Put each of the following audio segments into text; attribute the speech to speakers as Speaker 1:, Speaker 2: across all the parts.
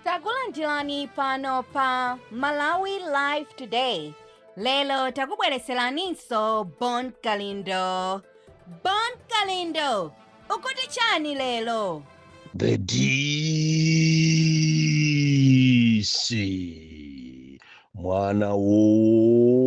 Speaker 1: takulandirani pano pa malawi live today lero takubwereseraninso Bon Kalindo Bon Kalindo ukuti chani lero The
Speaker 2: DC mwana woopsa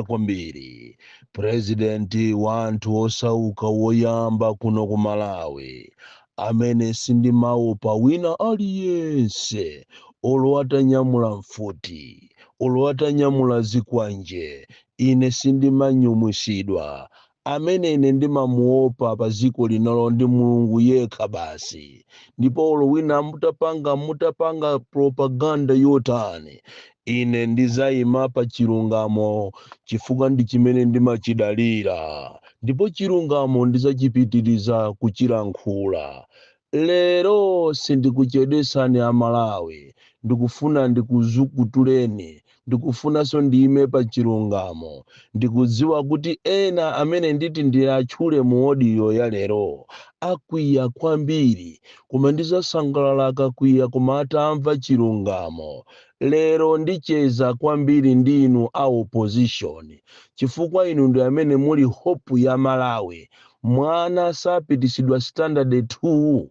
Speaker 2: kwambiri purezidenti wa anthu osauka woyamba kuno ku malawi Amene sindimaopa wina aliyense, Olo atanyamula mfuti, olo atanyamula zikwanje, Ine sindimanyumwisidwa. Amene ine ndimamuopa pa dziko lino ndi Mulungu yekha basi. Ndipo olo wina mutapanga, mutapanga propaganda yotani, Ine ndidzaima pa chilungamo chifukwa ndi chimene ndimachidalira, ndipo chilungamo ndidzachipitiriza kuchilankhula. Lero sindikuchedwetsani a Malawi, ndikufuna ndikuzukutuleni, ndikufunanso ndiime pa chilungamo. Ndikudziwa kuti ena amene nditi ndiatchule mu audio ya lero akwiya kwambiri, koma ndidzasangalala akakwiya koma atamva chilungamo. Lero ndicheza kwambiri ndi inu a opposition chifukwa inu ndi amene muli hope ya Malawi. Mwana sapitisidwa standard 2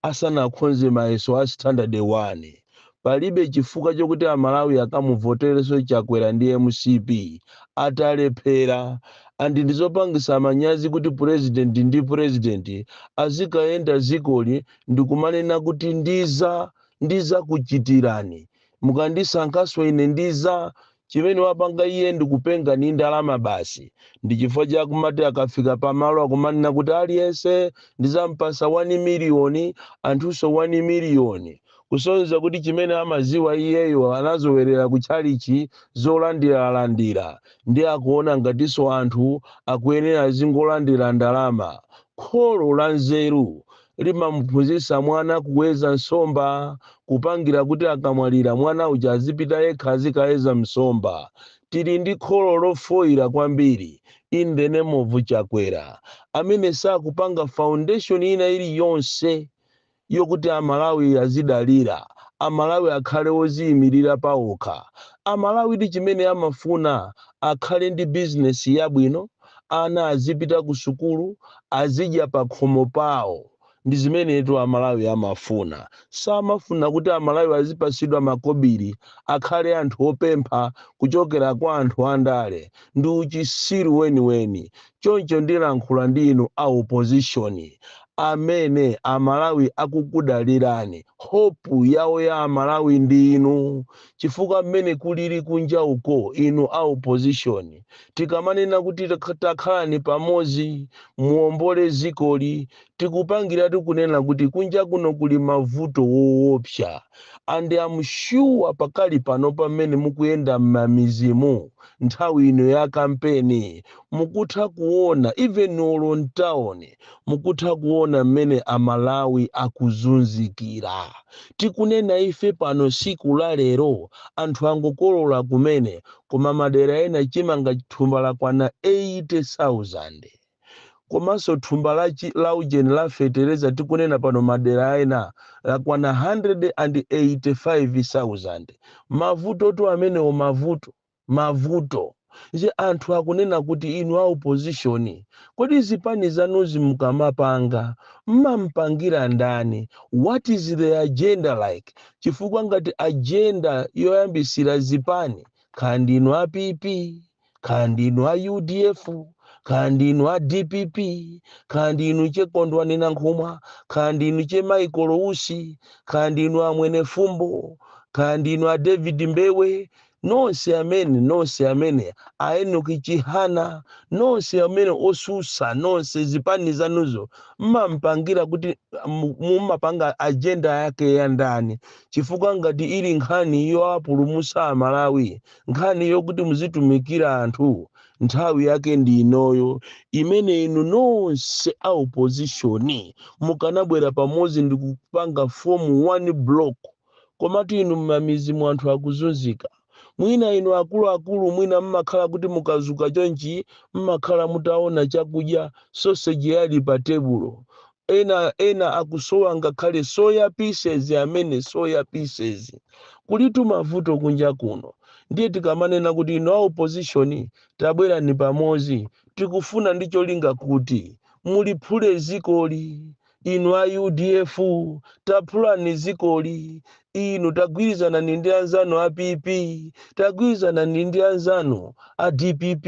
Speaker 2: asanakhonze mayeso a standard 1. Palibe chifukwa chokuti a Malawi akamuvoterenso Chakwera ndi mcp atalephera and ndizopangisa manyazi kuti president ndi president azikayenda dzikoli ndikumanena kuti ndiza ndizakuchitirani mukandisankhaso ine ndiza chimene wapanga iye ndikupenga ndi ndalama basi ndichifukwa chakumati akafika pamalo akumanena kuti aliyense ndizampasa 1 miliyoni anthuso 1 miliyoni kusonyeza kuti chimene amaziwa iyeyo anazowerera kutchalichi zolandiralandira ndi akuona ngatiso anthu akuyenera azingolandira ndalama kholo la nzeru limamuphunzitsa mwana kuweza nsomba, kupangira kuti akamwalira mwana uja azipita yekha azikaweza msomba. Tili ndi kholo lofoira kwambiri in the name of Chakwera amene sakupanga foundation ina iliyonse yokuti Amalawi azidalira, Amalawi akhale oziyimirira paokha. Amalawidi chimene amafuna akhale ndi bizinesi yabwino, ana azipita kusukulu, azidya pakhomo pawo. Ndi zimenetu Amalawi amafuna. Samafuna kuti Amalawi azipatsidwa makobiri, akhale anthu opempha kuchokera kwa anthu andale. Ndi uchisiru weniweni. Choncho ndilankhula ndi inu a opozishoni, amene Amalawi akukudalirani. Hope yawo ya Amalawi ndinu. chifukwa mmene kulili kunja uko, inu a opposition tikamanena kuti takhalani pamodzi muombole dzikoli tikupangira tikunena kuti kunja kuno kuli mavuto woopsa and I'm sure pakali pano pamene mukuyenda mmamidzimu nthawi ino ya kampeni mukutha kuona even olo mtauni mukutha kuona mmene amalawi akuzunzikira. tikunena ife pano siku la lero anthu angokolola kumene koma madera ena chimanga thumba lakwana 80,000. komanso thumba la chi la ujeni la fetereza tikunena pano madera ena lakwana 185,000. mavutotu amenewo mavuto. mavuto. Nde anthu akunena kuti inu a opposition kodi zipani zanuzi mukamapanga mmampangira ndani? What is the agenda like? Chifukwa ngati agenda yoyambisira zipani kaya ndinu a PP kaya ndinu a udf kaya ndinu a dpp kaya ndinu che Kondwani Nankhumwa kaya ndinu che Michael Usi kaya ndinu a Mwenefumbo kaya ndinu a David Mbewe nonse amene, nonse amene a Enoki Chihana, nonse amene otsutsa, nonse zipani zanuzo mmampangira kuti mu- mumapanga ajenda yake ya ndani, chifukwa ngati ili nkhani yoapulumusa Amalawi, nkhani yokuti muzitumikira anthu, nthawi yake ndi inoyo imene inu nonse a opposition mukanabwera pamodzi ndi kupanga form one block Komatu inu mmamidzimu anthu akuzunzika. Mwina inu akuluakulu mwina mmakhala kuti mukazuka chonchi mmakhala mutaona chakudya sausage yali pa tebulo. Ena ena akusowa ngakhale soya pieces amene soya pieces. Kulitu mavuto kunja kuno. Ndiye tikamanena kuti inu a opposition tabwerani pamodzi tikufuna ndi cholinga kuti muliphule dzikoli. inu a udf taphulani zikoli inu tagwirizanani ndi anzanu a pp tagwirizanani ndi anzanu a dpp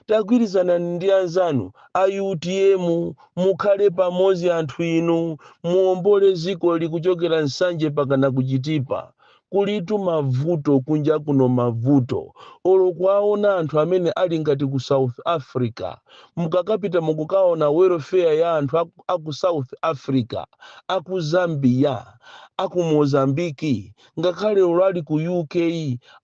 Speaker 2: tagwirizanani ndi anzanu a utm mukhale pamodzi anthu inu muombole zikoli kuchokera nsanje mpakana ku Chitipa Kulitu mavuto kunja kuno mavuto. Olo kuwaona anthu amene ali ngati ku South Africa. Mukakapita mukukaona welfare ya anthu a, a ku South Africa, a ku Zambia, a ku Mozambique, ngakhale olo ali ku UK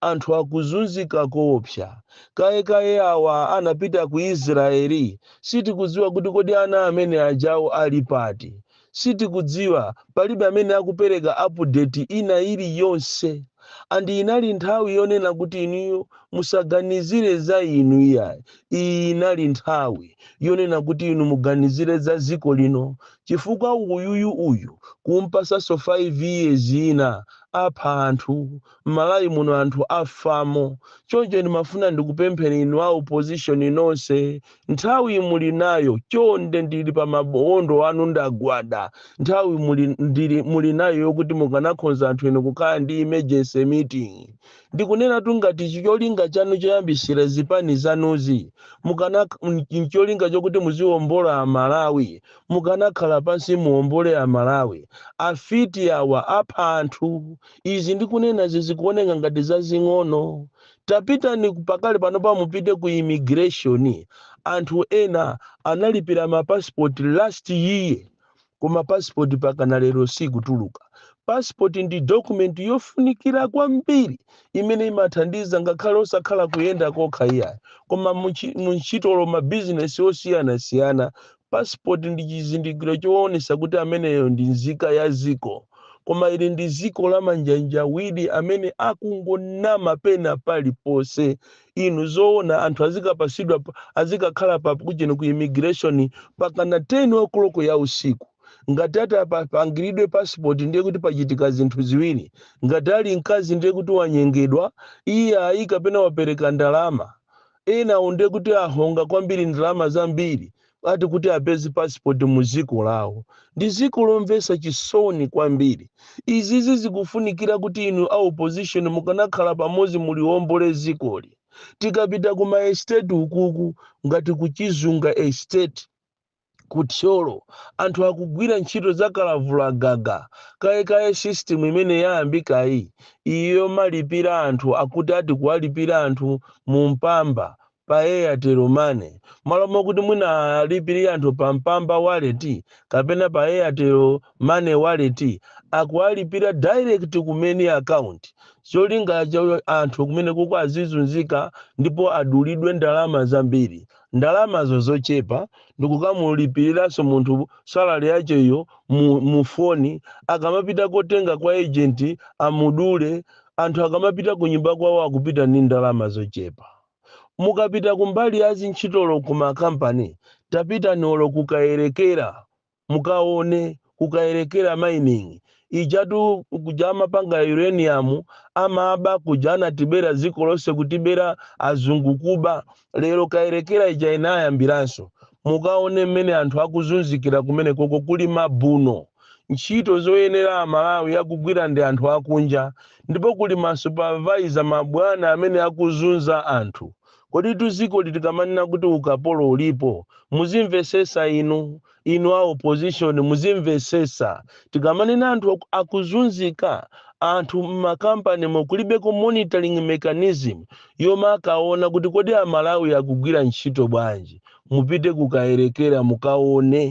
Speaker 2: anthu akuzunzika koopsa. Kaye kaye awa anapita ku Israel sitikudziwa kuti kodi ana amene ajawo ali pati. Sitikudziwa, palibe amene akupereka update ina ili yonse and inali nthawi yonena kuti inuyo musaganizire za inu iyayi, iyi inali nthawi yonena kuti inu muganizire za dziko lino chifukwa uyuyu uyu kumpasanso 5 years ina apha anthu Malawi muno anthu afamo choncho ndimafuna ndikupempheni inu a opposition nonse nthawi muli nayo chonde ndili pa mawondo anu ndagwada nthawi muli nayo yokuti mukanakhonza anthu inu kukhala ndi emergency meeting ndikunenatu ngati cholinga chanu choyambisira zipani zanuzi ncholinga chokuti muziwombola amalawi mukanakhala pansi muwombole amalawi afiti awa apha anthu Izi ndikunenazi zikuoneka ngati zazing'ono. Tapitani pakali panopa mupite ku immigration. Anthu ena analipira ma passport last year koma passport pakana lero sikutuluka. Passport ndi document yofunikira kwambiri imene imathandiza ngakhale osakhala kuyenda kokha iyayi koma mu ntchito olo ma business osiyanasiyana Passport ndi chizindikiro choonesa kuti ameneyo ndi nzika ya ziko, koma ili ndi ziko la manjanjawidi amene akungonama pena paliponse. Inu zoona anthu azikapasidwa azikakhala pa kujeni ku immigration pakana 10 o'clock ya usiku? Ngati ati apangiridwe passport ndiye kuti pachitika zinthu ziwiri, ngati ali mkazi ndiye kuti wanyengedwa iyayi kapena wapereka ndalama enawo ndiye kuti ahonga kwambiri ndalama zambiri ati kuti apeze passport mu dziko lawo ndi dziko lomvetsa chisoni kwambiri izizi zikufunikira kuti inu a opposition mukanakhala pamodzi muliombole dzikoli tikapita ku maesteti ukuku ngati kuchizunga estate Ku Thyolo, anthu akugwira ntchito za kalavulagaga kayekaye system imene yayambikayi iyi yomalipira anthu akuti ati kuwalipira anthu mu Mpamba pa Airtel money malo mokuti mwina alipilire anthu pa Mpamba wallet kapena pa Airtel money wallet akuwalipira direct ku main account cholinga cha anthu kumenekoko azizunzika ndipo adulidwe ndalama zambiri. ndalamazo zochepa ndikukamulipiriranso munthu salary yache iyo mu phone akamapita kotenga kwa agent amudule anthu akamapita ku nyumba kwawo akupita ndi ndalama zochepa mukapita kumbali ya zintchitolo ku makampani tapitani olo kukayerekera Mukaone kukayelekera mining ijatu kuja amapanga uranium amaba kuja anatibera dziko lonse kutibera azungu kuba lero kayelekera ija inayambiranso mukaone mmene anthu akuzunzikira kumenekoko kuli mabuno ntchito zoyenera amalawi akugwira ndi anthu akunja ndipo kuli ma supervisor mabwana amene akuzunza anthu Koditu zikoli tikamanena kuti ukapolo ulipo muzimvesesa inu, inu a opposition muzimvesesa tikamanena anthu akuzunzika anthu mma company mo kulibeko monitoring mechanism yomakaona kuti kodi a Malawi akugwira ntchito bwanji mupite ku Kayelekera mukaone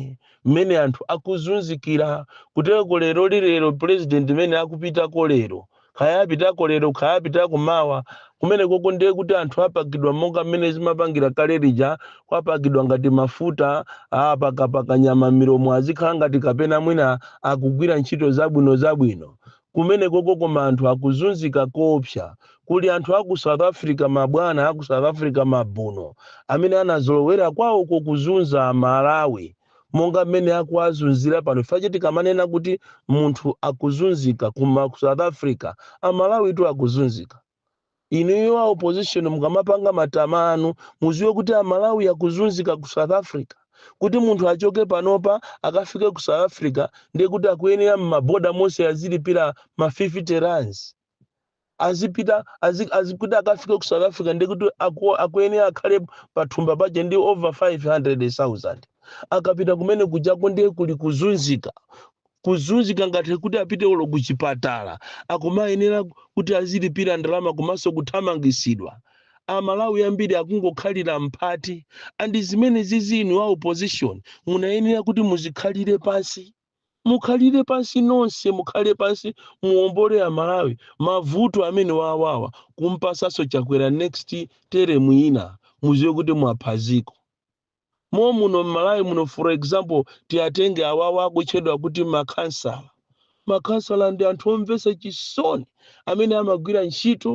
Speaker 2: mmene anthu akuzunzikira kuteloko leroli lero president mene akupitako lero kaya apitako lero kaya apitako mawa kumenekoko ndiye kuti anthu apakidwa monga mmene zimapangira kale lija kwapakidwa ngati mafuta apakapaka nyama milomo azikhala ngati kapena mwina akugwira ntchito zabwino zabwino kumenekoko koma anthu akuzunzika koopsa kuli anthu aku south africa mabwana aku south africa mabuno amene anazolowera kwawoko kuzunza amalawi monga mmene akuwazunzira pano chifukwa chake tikamanena kuti munthu akuzunzika koma ku south africa amalawitu akuzunzika inuyo a opposition mukamapanga matama anu muziwe kuti amalawi akuzunzika ku south africa kuti munthu achoke panopa akafike ku south africa ndiye kuti akuyenera m'maboda monse azilipira ma 50 rands azipita azi, azi, kuti akafike ku south africa ndiye kuti aku- akuyenera akhale pathumba paja ndi over 500000 akapita kumene kujako ndiye kuli kuzunzika kuzunzika ngati kuti apite olo kuchipatala akumayenera kuti azilipira ndalama komanso kuthamangisidwa amalawi ambiri akungokhalira mphati andi zimene zizi inu a opposition munayenera kuti muzikhalire pansi Mukhalire pansi nonse mukhale pansi muwombole amalawi mavuto amenewa awawa kumpasanso chakwera next term ina muziwe kuti mwapha ziko momuno mmalawi muno for example tiatenge awawa akutchedwa kuti makhansala makhansala ndi anthu omvesa chisoni amene amagwira ntchito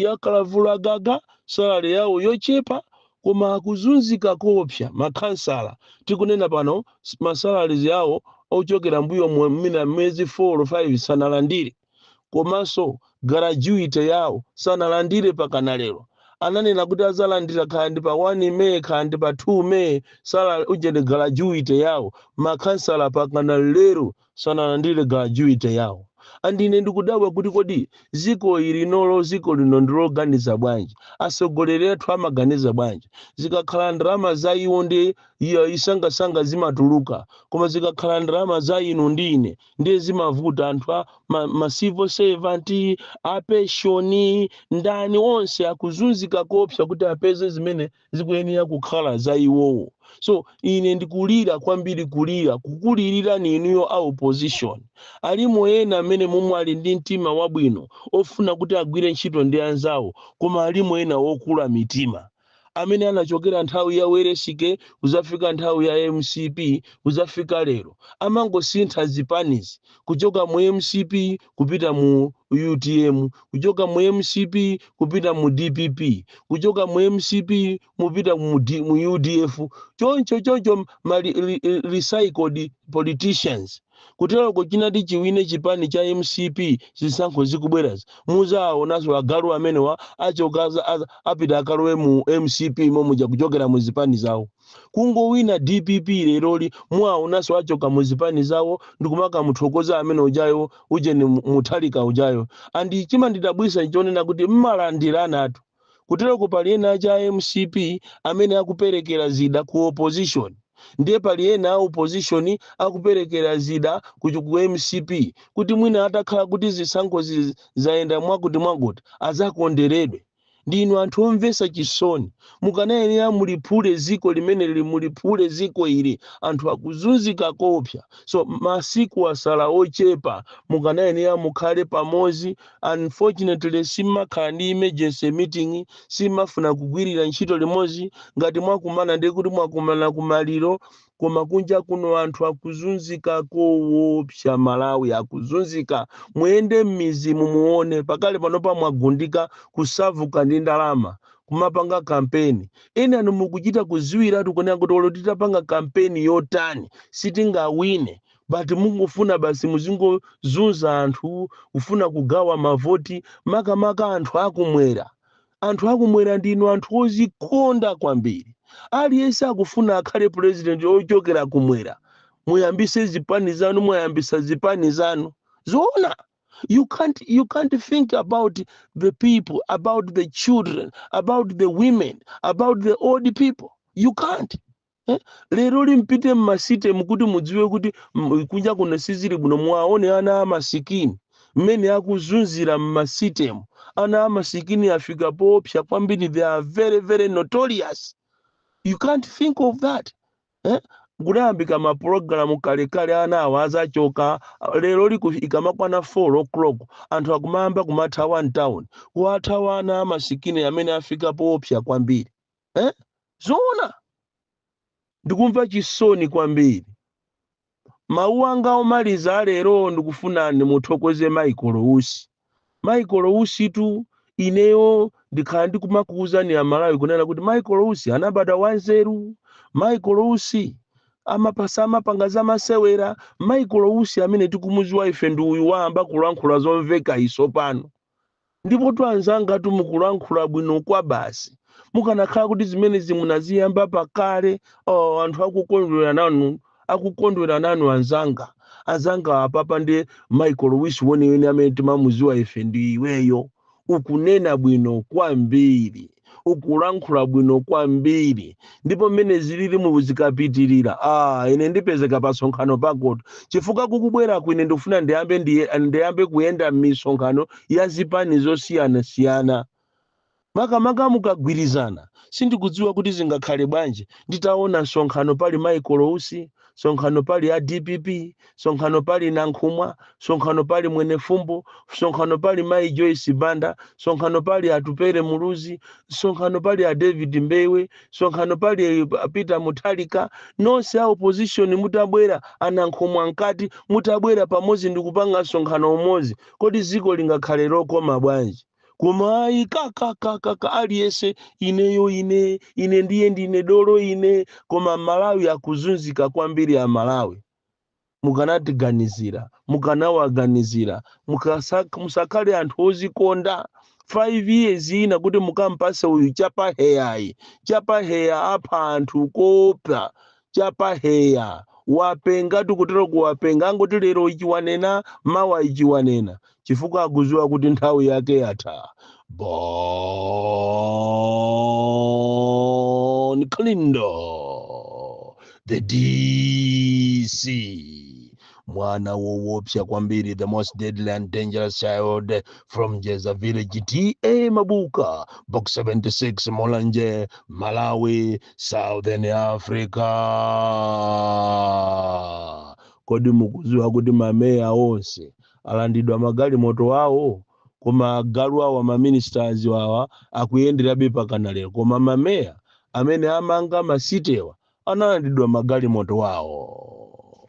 Speaker 2: yakalavula gaga salary yawo yochepa Koma akuzunzika koopsa, ma khansala tikunena pano ma salaries awo ochokera mbuyomu mwina miyezi 4 or 5 sanalandire komanso garajuite yawo sanalandire pakana lero. Ananena kuti azalandira kaya ndi pa 1 May kaya ndi pa 2 May salary ujeni garajuite yawo ma khansala pakana lero sanalandire gratuity yawo and ine ndikudabwa kuti kodi ziko ili nalo ziko lino ndiloganiza bwanji asogoleri athu amaganiza bwanji zikakhala ndalama za iwo ndiye msangamsanga zimatuluka koma zikakhala ndalama za inu ndi ine ndiye zimavuta anthu a ma, ma civil servant apeshoni ndani onse akuzunzika koopsa kuti apeze zimene zikuyenera kukhala za iwowo so ine ndikulira kwambiri kulira kukulirirani inuyo a opposition alimo ena amene momwe ali ndi mtima wabwino ofuna kuti agwire ntchito ndi anzawo koma alimo ena okula mitima amene anachokera nthawi ya Welensky kuzafika nthawi ya mcp kuzafika lero amangosintha zipanizi kuchoka mu mcp kupita mu utm kuchoka mu mcp kupita mu dpp kuchoka mu mcp kupita mu, D, mu udf choncho choncho ma re- re- re- recycled politicians kuteroko chinati chiwine chipani cha mcp zisankho zikubwerazi muzawaonanso agalu amenewa achoka aza- aza- apita akalowe mu mcp momuja kuchokera mu zipani zawo Kungowina dpp leroli muwaonanso achoka mu zipani zawo ndikumakamuthokoza amene ujayo ujeni Mutharika ujayo and chimandidabwisa nchonena kuti mmalandiranatu kuteroko pali ena ache a mcp amene akuperekera zida ku opposition ndiye pali ena a opposition akuperekera zida ku mcp kuti mwina atakhala kuti zisankhozi zayenda mwakuti mwakuti azakonderedwe. ndinu anthu omvesa chisoni mukanayenera muliphule ziko limeneli muliphule ziko ili anthu akuzunzika koopsa so masiku asala ochepa mukanayenera mukhale pamozi unfortunately simakhala ndi emergency meeting simafuna kugwirira ntchito limozi ngati mwakumana ndekuti mwakumana kumaliro koma kunja kuno anthu akuzunzika kowopsa aMalawi akuzunzika muyende mmizimu muone pakale panopa mwagundika kusavutsa ndi ndalama kumapanga kampeni enanu mukuchita kuziwiratu kunena kuti olo titapanga kampeni yotani sitingawine but mungofuna basi muzingozunza anthu kufuna kugawa mavoti makamaka anthu akumwera Anthu akumwera ndinu anthu ozikonda kwambiri. Aliyense akufuna akhale president ochokera kumwera. Muyambise zipani zanu mwayambisa zipani zanu. Zoona? You can't, you can't think about the people, about the children, about the women, about the old people. You can't. Eh? lero li mpite mmasitemu kuti mudziwe kuti m- kunja kuno sizili bwino muwaone ana amasikini mmene akuzunzikira mmasitemu ana amasikini afika poopsa kwambiri they are very very notorious you can't think of that eh? kudayambika mapulogalamu kalekale ana awa azachoka lero li ikamakwana 4 o'clock anthu akumayamba kumathawa mtown kuwathawa ana amasikini amene afika poopsa kwambiri eh? zoona ndikumva chisoni kwambiri mawu anga omaliza alero ndikufuna ndimuthokoze michael usi michael usitu ineyo ndikhala ndikumakuwuzani amalawi kunena kuti michael usi anabadwa wanzeru michael usi amapasa amapanga za masewera michael usi amene tikumuziwa ife ndi uyu wayamba kulankhula zomveka isopano Ndipotu anzangatu mukulankhula bwino kwabasi. Mukanakhala kuti zimenezi munaziyamba pakale, oh, anthu akukondwera nanu, akukondwera nanu anzanga. Anzanga apapa ndi Michael Usi weniweni amene timamuziwa ife ndi iweyo. Ukunena bwino kwambiri. ukulankhula bwino kwambiri ndipo mmene zililimu zikapitirira ah ine ndipezeka pa sonkhano pakotu chifukwa kukubweraku ine ndikufuna ndiyambe ndiyambe kuyenda m'misonkhano ya zipani zosiyanasiyana makamaka mukagwirizana sindikudziwa kuti zingakhale bwanji nditaona msonkhano pali michael usi sonkhano pali a dpp sonkhano pali nankhumwa sonkhano pali mwenefumbo sonkhano pali mayi joyce banda sonkhano pali atupere muluzi sonkhano pali a david mbewe sonkhano pali eh, peter mutharika nonse a opposition mutabwera anankhumwa mkati mutabwera pamodzi ndikupanga msonkhano umodzi kodi dziko lingakhale lokoma bwanji koma ayi kakaka kaka aliyese ineyo ine ine ndiye ndine dolo ine koma amalawi akuzunzika kwambiri a malawi mukanatiganizira mukanawaganizira musakhale anthu ozikonda 5 years ina kuti mukampase uyu chapaheya ayi chapaheya apha anthu koopsa chapaheya wapenga tikutero kuti wapenga angoti lero ichi wanena mawa ichi wanena chifukwa akuziwa kuti nthawi yake yatha Bon Kalindo the dc mwana wowopsa kwambiri the most deadly and dangerous child from jeza village ta mabuka box 76 Mulanje malawi southern africa kodi mukuziwa kuti mameya onse alandidwa magalimoto awo koma agalu awa maministers wawa akuyenderabe pakana lero koma mameya amene amanga masitewa analandidwa magalimoto wawo